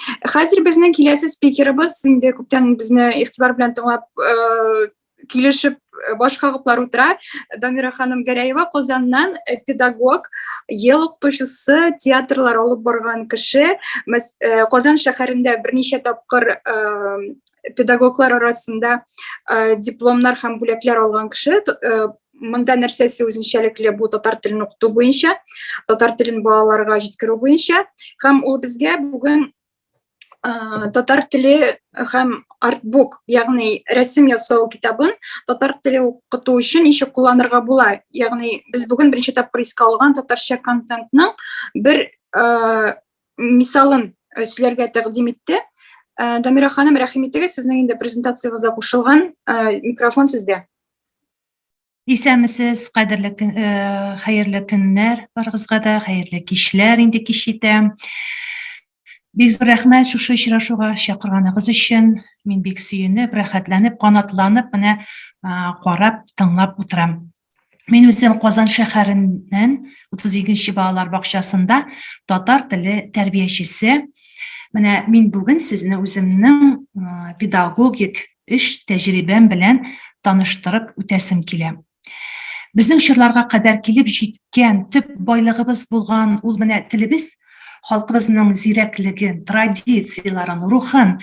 Хәзер безнең киләсе спикерыбыз инде күптән безне игътибар белән тыңлап э, килешеп э, баш кагыплар утыра. Дамира ханым Гәрәева Казаннан э, педагог, ел укытучысы, театрлар алып барган кеше. Казан шәһәрендә берничә тапкыр педагоглар арасында дипломнар һәм бүләкләр алган кеше. Монда нәрсәсе үзенчәлекле бу татар телен укыту буенча, татар телен балаларга җиткерү буенча һәм ул безгә бүген татар теле һәм артбук, ягъни рәсем ясау китабын татар теле укыту өчен ничек кулланырга була? Ягъни без бүген беренче тапкыр искә алган татарча контентның бер мисалын сөйләргә тәкъдим итте. Дамира ханым, рәхим итегез, сезнең инде презентациягызга кушылган микрофон сездә. Исәмесез, кадерле көн, э, хәерле көннәр барыгызга да, хәерле кичләр инде кич итә. Бик зур рәхмәт шушы очрашуга чакырганыгыз өчен. Мин бик сөенеп, рәхәтләнеп, канатланып менә карап, тыңлап утырам. Мин үзем Казан шәһәреннән 32-нче балалар бакчасында татар теле тәрбиячесе. Менә мин бүген сезне үземнең педагогик эш тәҗрибәм белән таныштырып үтәсем килә. Безнең чорларга кадәр килеп җиткән төп байлыгыбыз булган ул менә телебез, халкыбызның зирәклеген, традицияләрен, рухын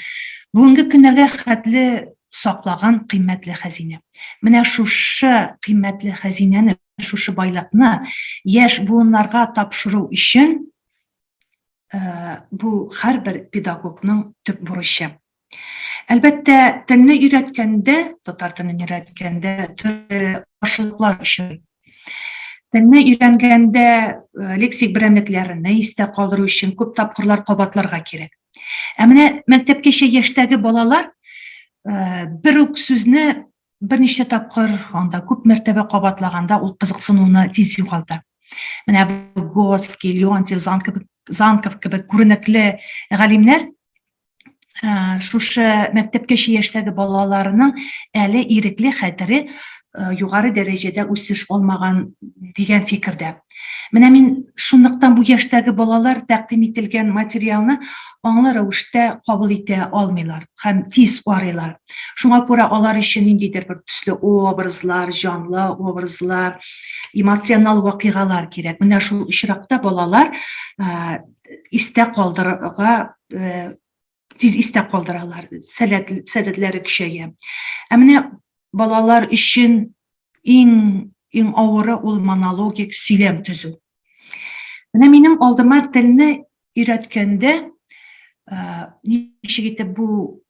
бүгенге көннәргә хәтле саклаган кыйммәтле хәзинә. Менә шушы кыйммәтле хәзинәне, шушы байлыкны яшь буыннарга тапшыру өчен э, бу һәрбер педагогның төп бурычы. Әлбәттә, телне өйрәткәндә, татар телен өйрәткәндә төрле каршылыклар очрый. Телне өйрәнгәндә э, лексик берәмлекләрне истә калдыру өчен күп тапкырлар кабатларга кирәк. Ә менә мәктәпкәчә яшьтәге балалар э, бер үк сүзне Берничә тапкыр анда күп мәртәбә кабатлаганда ул кызыксынуны тиз югалта. Менә Готский, Леонтьев, Занков, Занков кебек күренекле галимнәр шушы мәктәпкәчә яшьтәге балаларының әле ирекле хәтере югары дәрәҗәдә үсеш алмаган дигән фикердә. Менә мин шунлыктан бу яшьтәге балалар тәкъдим ителгән материалны аңлы рәвештә кабул итә алмыйлар һәм тиз арыйлар. Шуңа күрә алар өчен ниндидер бер төсле образлар, җанлы образлар, эмоциональ вакыйгалар кирәк. Менә шул очракта балалар истә калдырырга тиз истә калдыралар, сәләт, сәләтләре көчәя. Ә менә балалар өчен иң иң авыры ул монологик сөйләм төзү. Менә минем алдыма телне өйрәткәндә ничек итеп бу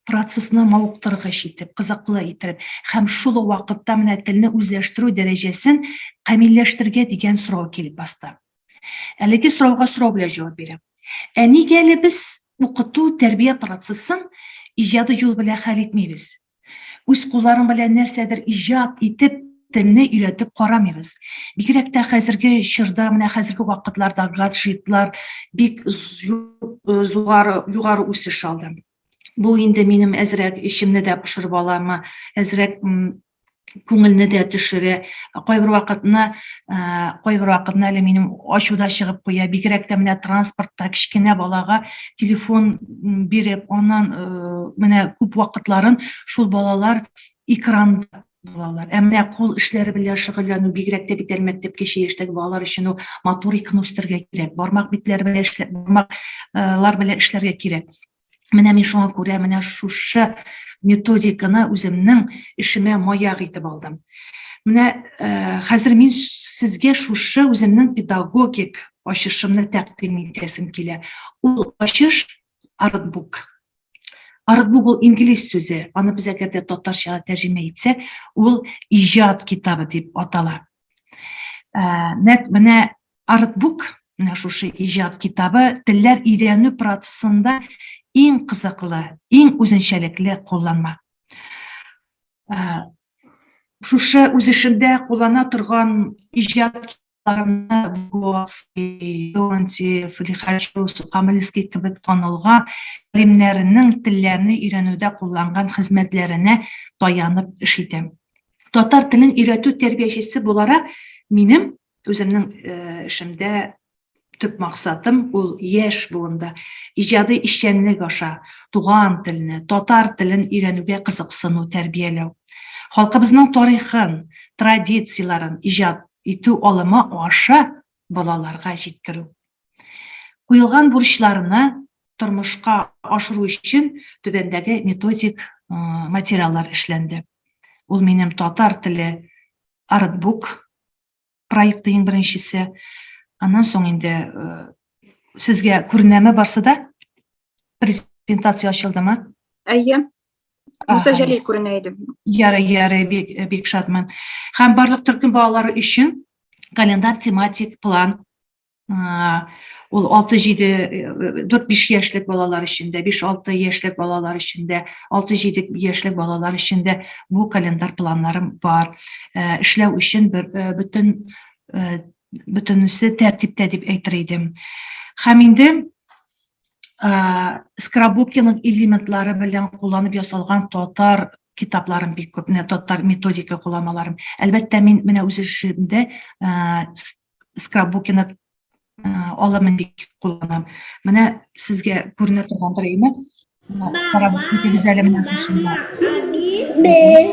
процессны мавыктыргыч итеп, кызыклы итеп һәм шул ук вакытта менә телне үзләштерү дәрәҗәсен камилләштерергә дигән сорау килеп басты. Әлеге сорауга сорау белән җавап бирәм. Ә нигә әле без укыту, тәрбия процессын иҗади юл белән хәл итмибез? Үз кулларың белән нәрсәдер иҗат итеп, телне өйрәтеп карамыйбыз. Бигрәк тә хәзерге чорда, менә хәзерге вакытларда гаджетлар бик югары югары үсеш алды. Бу инде минем әзрәк эчемне дә пошырып аламы, әзрәк күңелне дә төшерә. Кайбер вакытны, кайбер вакытны әле минем ачу да чыгып куя. Бигрәк тә менә транспортта кечкенә балага телефон биреп, аннан менә күп вакытларын шул балалар экран булалар. Ә менә кул эшләре белән шөгыльләнү, бигрәк тә бит әле мәктәпкәчә яшьтәге балалар өчен ул моториканы үстерергә кирәк. Бармак битләре белән эшләп, бармак лар белән эшләргә кирәк. Менә мин шуңа күрә менә шушы методиканы үземнең эшемә маяк итеп алдым. Менә э, хәзер мин сезгә шушы үземнең педагогик ачышымны тәкъдим итәсем килә. Ул ачыш артбук. Артбук ул инглиз сүзе. Аны без әгәр дә татарчага тәрҗемә итсәк, ул иҗат китабы дип атала. Ә, нәк менә артбук, менә шушы иҗат китабы телләр өйрәнү процессында иң кызыклы, иң үзенчәлекле кулланма. Ә, шушы үз эшендә куллана торган иҗат Леонтьев, Лихачев, Сукамльский кебек танылган галимнәренең телләрне өйрәнүдә кулланган хезмәтләренә таянып эш итәм. Татар телен өйрәтү тәрбиячесе буларак, минем үземнең э, эшемдә төп максатым ул яшь буында иҗади эшчәнлек аша туган телне, татар телен өйрәнүгә кызыксыну, тәрбияләү. Халкыбызның тарихын, традицияләрен иҗат итү алымы аша балаларга җиткерү. Куелган бурычларны тормышка ашыру өчен түбәндәге методик материаллар эшләнде. Ул минем татар теле артбук проекты иң беренчесе. Аннан соң инде сезгә күренәме барсы да? Презентация ачылдымы? Әйе, Муса Җәлил күренә иде. Ярый, ярый, бик, бик шатмын. Һәм барлык төркем балалары өчен календар тематик план ул 6-7 4-5 яшьлек балалар өчен дә, 5-6 яшьлек балалар өчен дә, 6-7 яшьлек балалар өчен дә бу календар планнарым бар. Э, эшләү өчен бер э, бүтән э, бүтәнесе тәртиптә дип әйтер идем. Һәм инде Скрабукиның элементлары белән кулланып ясалган татар китапларын бик күп, менә татар методика кулланмаларын. Әлбәттә, мин менә үз эшемдә Скрабукины алымын бик кулланам. Менә сезгә күренә торгандыр инде. Карап үтегез әле менә шушында. Бер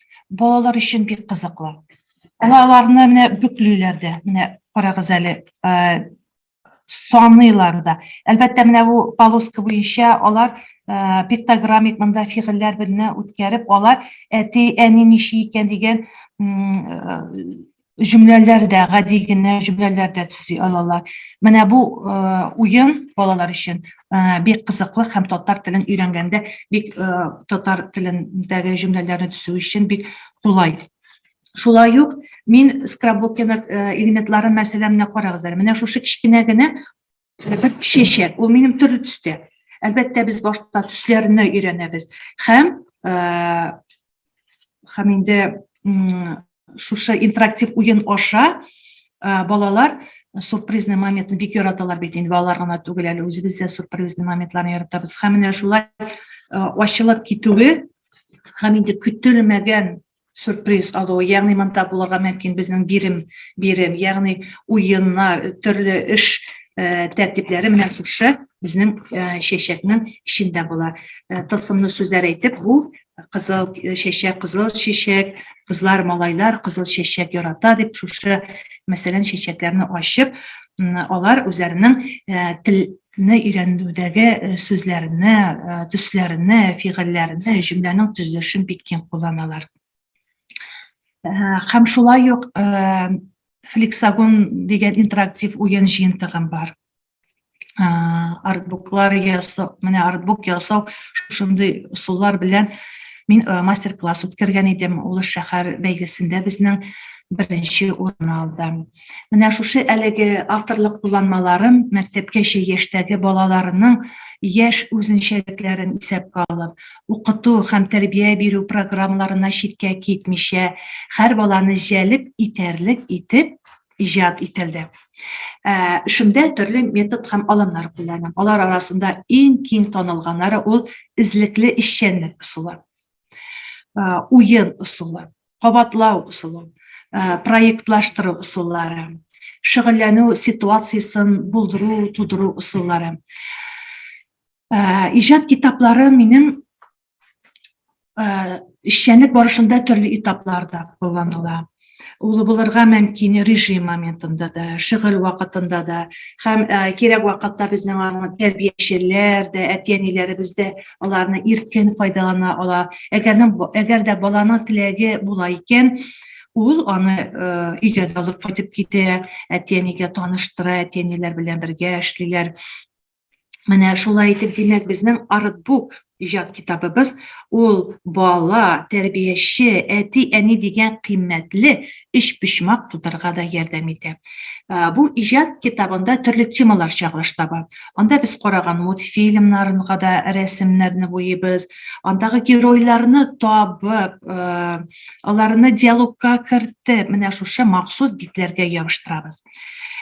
Балалар өчен бик кызыклы. Аларны менә бүклиләр дә. Менә карагыз әле, саныйлар да. Әлбәттә, менә бу полоска буенча алар пиктограммик монда фигыльләр белән үткәреп, алар әти, әни ничи икән дигән җөмләләр дә, гади генә җөмләләр дә төзи алалар. Менә бу уен балалар өчен бик кызыклы һәм татар телен өйрәнгәндә бик татар телендәге җөмләләрне төзү өчен бик кулай. Шулай ук мин скраббук элементларын мәсәлә менә карагыз әле. Менә шушы кечкенә генә бер чәчәк ул минем төрле төстә әлбәттә без башта төсләрне өйрәнәбез һәм һәм инде шушы интерактив уен аша балалар сюрпризный моментны бик яраталар бит инде балалар гына түгел әле үзебез дә сюрпризный моментларны яратабыз һәм менә шулай ачылып китүе һәм инде көтелмәгән сюрприз алу, ягъни монда булырга мөмкин безнең бирем, бирем, ягъни уеннар, төрле эш э, тәртипләре менә шушы безнең э, чәчәкнең эчендә була. Э, тылсымлы сүзләр әйтеп, бу кызыл чәчәк, кызыл чәчәк, кызлар, малайлар кызыл чәчәк ярата дип шушы мәсәлән чәчәкләрне ачып, алар үзләренең не өйрәнүдәге сүзләрне, төсләрне, фигыльләрне, җөмләнең төзелешен бик киң кулланалар. Һәм шулай ук флексагон дигән интерактив уен җыентыгым бар. Артбуклар ясау, менә артбук ясау шушындый ысуллар белән мин мастер-класс үткәргән идем. Улы шәһәр бәйгесендә безнең беренче урын алдым. Менә шушы әлеге авторлык кулланмаларын мәктәпкәчә яшьтәге балаларының яшь үзенчәлекләрен исәпкә алып, укыту һәм тәрбия бирү программаларына читкә китмичә, һәр баланы җәлеп итәрлек итеп иҗат ителде. Эшемдә ә, төрле метод һәм алымнар кулланам. Алар арасында иң киң танылганнары ул эзлекле эшчәнлек ысулы, уен ысулы. кабатлау ысулы, проектлаштыру ысуллары, шөгыльләнү ситуациясен булдыру, тудыру ысуллары. Иҗат китаплары минем эшчәнлек барышында төрле этапларда кулланыла. Ул булырга мөмкин режим моментында да, шөгыль вакытында да һәм кирәк вакытта безнең аны тәрбиячеләр дә, әти-әниләребез дә аларны иркен файдалана ала. Әгәрнең әгәр дә баланың теләге була икән, ул аны өйгә дә алып кайтып китә, әти-әнигә таныштыра, әти-әниләр белән бергә эшлиләр. Менә шулай итеп, димәк, безнең артбук иҗат китабыбыз ул бала, тәрбияче, әти-әни дигән кыйммәтле өчпочмак тудырырга да ярдәм итә. Бу иҗат китабында төрле темалар чагылыш таба. Анда без караган мультфильмнарга да рәсемнәрне буйыйбыз, андагы геройларны табып, аларны диалогка кертеп, менә шушы махсус битләргә ябыштырабыз.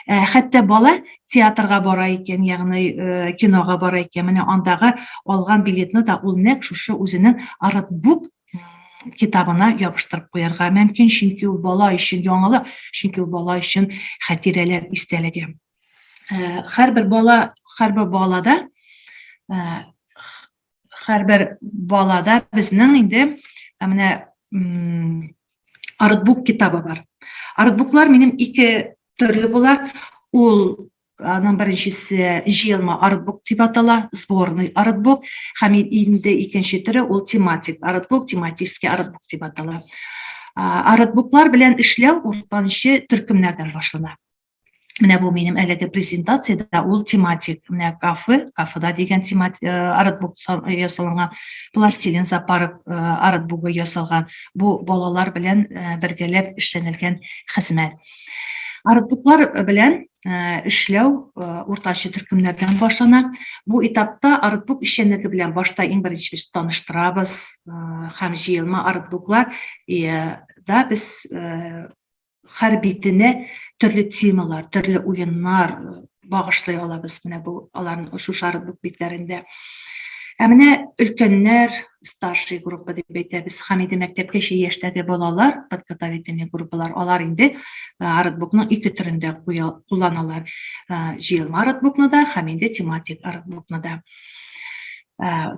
Хәтта бала театрга бара икән, ягъни кинога бара икән, менә андагы алган билетны да ул нәкъ шушы үзенең артбук китабына ябыштырып куярга мөмкин, чөнки ул бала өчен яңалык, чөнки ул бала өчен хәтирәләр истәлеге. Э, һәрбер бала, һәрбер балада һәрбер э, балада безнең инде э, менә артбук китабы бар. Артбуклар минем ике төрле була. Ул Аның беренчесе җыелма артбук дип атала, сборный артбук, һәм инде икенче төре ул тематик артбук, тематический артбук дип атала. Артбуклар белән эшләү уртанчы төркемнәрдән башлана. Менә бу минем әлеге презентациядә ул тематик, менә кафе, кафеда дигән тематик э, артбук ясалган, пластилин зоопарк э, артбугы ясалган. Бу балалар белән э, бергәләп эшләнелгән хезмәт. Арыклыклар белән эшләү уртача төркемнәрдән башлана. Бу этапта арыклык эшчәнлеге белән башта иң беренче без таныштырабыз һәм җыелма арыклыклар да без һәр битенә төрле темалар, төрле уеннар багышлый алабыз. Менә бу аларның шушы арыклык битләрендә. Ә менә өлкәннәр, старший группа дип әйтәбез һәм инде мәктәпкәчә яшьтәге балалар подготовительный группалар алар инде артбукның ике төрендә кулланалар җыелма артбукны да һәм инде тематик артбукны да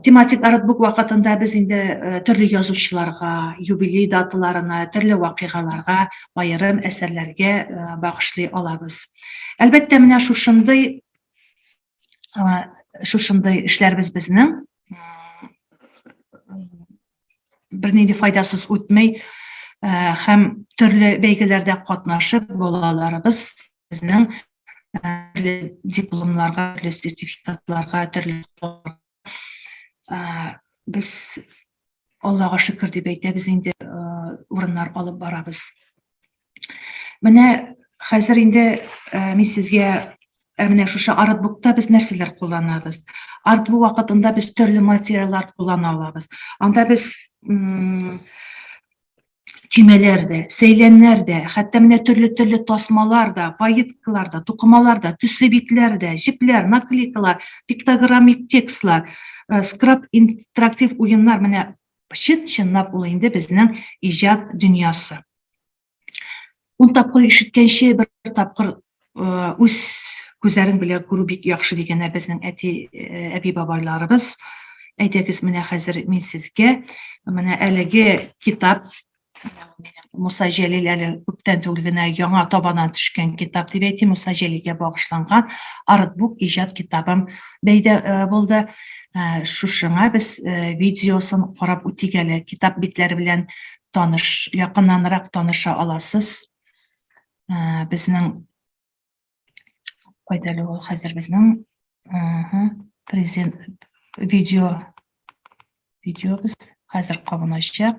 тематик артбук вакытында без инде төрле язучыларга юбилей даталарына төрле вакыйгаларга аерым әсәрләргә багышлый алабыз әлбәттә менә шушындый шушындай эшләрбез безнең бернинди файдасыз үтмәй һәм төрле бәйгеләрдә катнашып балаларыбыз безнең дипломларга төрле сертификатларга төрле без Аллага шөкер дип әйтәбез инде урыннар алып барабыз. Менә хәзер инде мин сезгә менә шушы артбукта без нәрсәләр кулланабыз. Артбук вакытында без төрле материаллар куллана алабыз. Анда без чимәләр дә, сәйләннәр дә, хәтта менә төрле-төрле тасмалар да, поеткалар да, тукымалар да, төсле битләр дә, җепләр, наклейкалар, пиктограммик текстлар, э, скраб интерактив уеннар менә чын-чынлап ул инде безнең иҗат дөньясы. Ун тапкыр ишеткәнче бер тапкыр үз күзләрең белән күрү бик яхшы дигәннәр безнең әти әби бабайларыбыз. Әйдәгез, менә хәзер мин сезгә менә әлеге китап Муса Җәлил әле күптән түгел генә яңа табадан төшкән китап дип әйтим, Муса Җәлилгә багышланган Артбук иҗат китабым бәйдә булды. Шушыңа без видеосын карап үтик әле. Китап битләре белән таныш, якыннанрак таныша аласыз. Ә, безнең кайда әле ул хәзер безнең презент видео видеобыз хәзер кабыначак.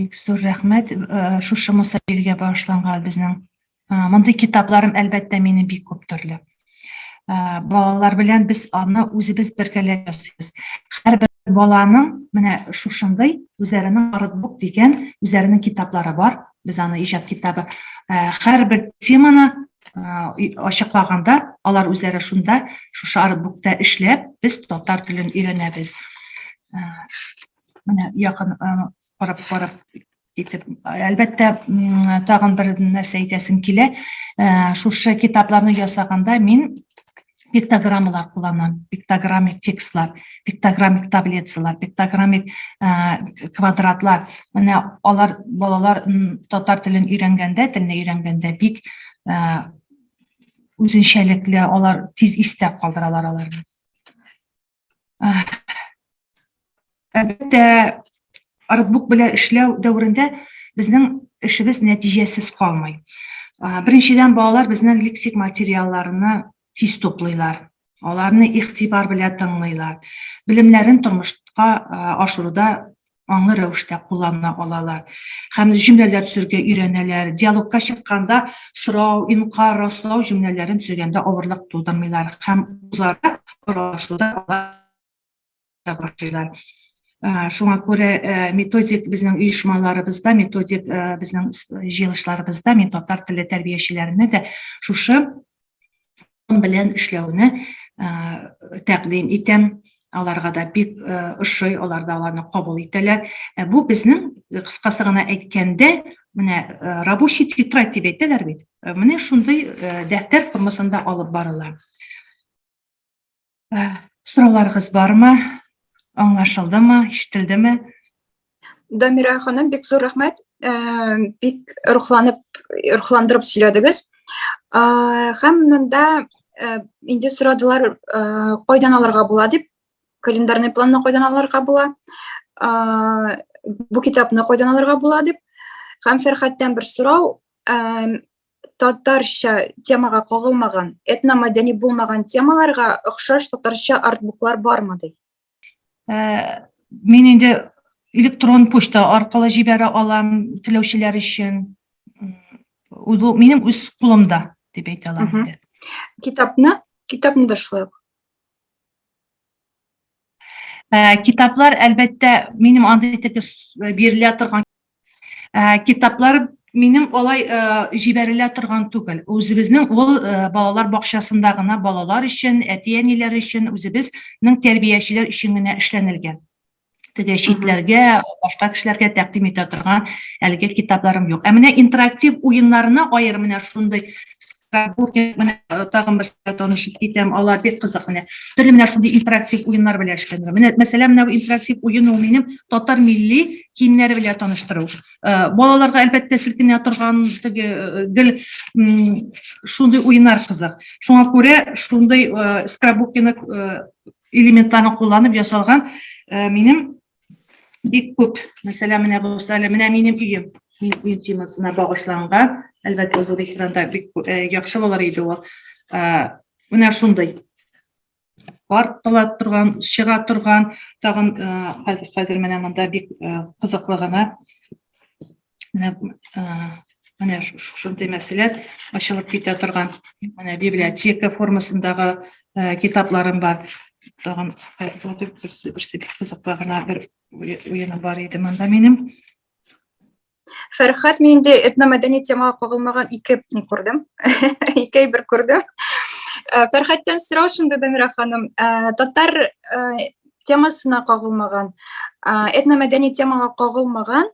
бик зур рәхмәт э, шушы муса биргә багышланган безнең э, мондый китапларым әлбәттә мине бик күп төрле Ә, балалар белән без аны үзебез бергәләп ясыйбыз. Һәрбер баланың менә шушындый үзләренең артбук дигән үзләренең китаплары бар. Без аны иҗат китабы. Ә, һәрбер теманы ә, ачыклаганда алар үзләре шунда шушы артбукта эшләп без татар телен өйрәнәбез. Ә, менә якын карап карап итеп әлбәттә тагын бер нәрсә әйтәсем килә шушы китапларны ясаганда мин пиктограммалар кулланам пиктограммик текстлар пиктограммик таблицалар пиктограммик квадратлар менә алар балалар татар телен өйрәнгәндә телне өйрәнгәндә бик үзенчәлекле алар тиз истә калдыралар аларны Әлбәттә, артбук белән эшләү дәверендә безнең эшебез нәтиҗәсез калмый. Беренчедән, балалар безнең лексик материалларны тиз туплыйлар. Аларны игътибар белән тыңлыйлар. Белемнәрен тормышка ашыруда аңлы рәвештә куллана алалар һәм җөмләләр төзергә өйрәнәләр. Диалогка чыкканда сорау, инкар, раслау җөмләләрен төзегәндә авырлык тудырмыйлар һәм үзара аралашуда башлыйлар. Э, шуңа күрә э, методик безнең оешмаларыбызда, методик э, безнең җыелышларыбызда мин татар теле тәрбиячеләренә дә шушы белән эшләүне тәкъдим итәм аларга да бик ошый алар да аларны кабул итәләр бу безнең кыскасы гына әйткәндә менә рабочий тетрадь дип әйтәләр бит менә шундый дәфтәр формасында алып барыла Ә, Сорауларыгыз бармы? Аңлашылдымы? Ишетелдеме? Дамира ханым, бик зур рәхмәт. Ә, Бик рухланып, рухландырып сөйләдегез. Ә, Һәм монда ә, инде сорадылар, ә, кайдан алырга була дип, календарный планны кайдан алырга була, ә, бу китапны кайдан алырга була дип. Һәм Фәрхәттән бер сорау, ә, татарча темага кагылмаган этномәдәни булмаган темаларга охшаш татарча артбуклар бармы ди ә, мин инде электрон почта аркылы җибәрә алам теләүчеләр өчен минем үз кулымда дип әйтә алам инде китапны китапны да шулай ук ә, китаплар әлбәттә минем андый теге бирелә торган Ә, китаплар минем алай ә, җибәрелә торган түгел. Үзебезнең ул ә, балалар бакчасында гына балалар өчен, әти-әниләр өчен, үзебезнең тәрбиячеләр өчен генә эшләнелгән. Теге читләргә, башка кешеләргә тәкъдим итә торган әлеге китапларым юк. Ә менә интерактив уеннарына аерым менә шундый Кухня менә э, тагын берсенә танышып китәм. Алар бик кызык менә. Төрле менә шундый интерактив уеннар белән эшләнер. Менә мәсәлән, менә интерактив уен ул минем татар милли киемнәре белән таныштыру. Э, балаларга әлбәттә селкенә торган теге э, гел шундый уеннар кызык. Шуңа күрә шундый скрабукины элементларын кулланып ясалган минем Бик күп. Мәсәлән, менә булса, менә минем өем. Мин өй темасына багышланган. Әлбәттә, ул экранда бик э, яхшы булыр иде ул. Э, менә шундый. Бар тола торган, чыга торган, тагын э, хәзер хәзер менә монда бик кызыклы гына менә менә шушындый мәсьәлә ачылып китә торган менә библиотека формасындагы китапларым бар тагын берсе берсе бик кызыклы гына бер уены бар иде монда минем фәрхат мин инде этномәдәни темага кагылмаган ике не күрдем ике әйбер күрдем фәрхаттан сорау шунда дамира ханым татар темасына кагылмаган этномәдәни темага кагылмаган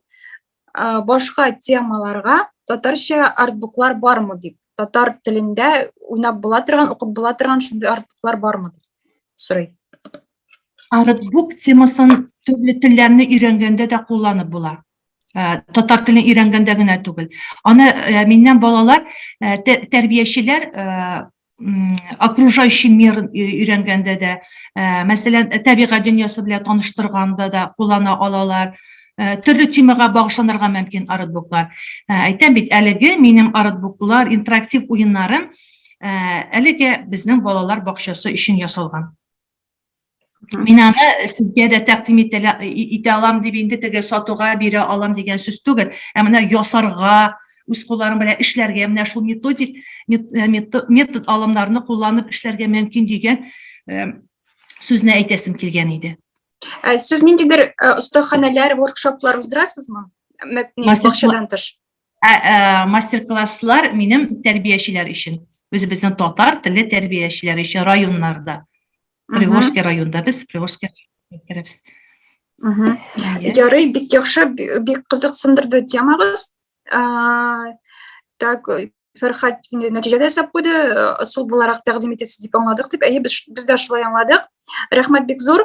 башка темаларга татарча артбуклар бармы дип татар телендә уйнап була торган укып була торган шундый артбуклар бармы дип сорый артбук темасын төрле телләрне өйрәнгәндә дә кулланып була Э, татар телен өйрәнгәндә генә түгел аны э, миннән балалар э, тәрбиячеләр окружающий мир өйрәнгәндә дә мәсәлән табигать дөньясы белән таныштырганда да куллана алалар төрле темага багышланырга мөмкин арытбуклар әйтәм бит әлеге минем арытбуклар интерактив уеннарым әлеге безнең балалар бакчасы өчен ясалган Мин аны сезгә дә тәкъдим итә алам дип инде теге сатуга бирә алам дигән сүз түгел. Ә менә ясарга, үз кулларың белән эшләргә, менә шул методик э, метод алымнарны кулланып эшләргә мөмкин дигән э, сүзне әйтәсем килгән иде. Ә сез ниндидер э, остаханәләр, воркшоплар уздырасызмы? Бакчадан тыш. Ә, ә, мастер-класслар минем тәрбиячеләр өчен. Үзебезнең татар теле тәрбиячеләр өчен районнарда. Приволжский районда без Приволжский үткәрәбез. Ярый, бик яхшы, бик кызыксындырды темагыз. Так, Фәрхат нәтиҗәдә ясап куйды, ысул буларак тәкъдим итәсез дип аңладык дип. Әйе, без, без дә шулай аңладык. Рәхмәт бик зур.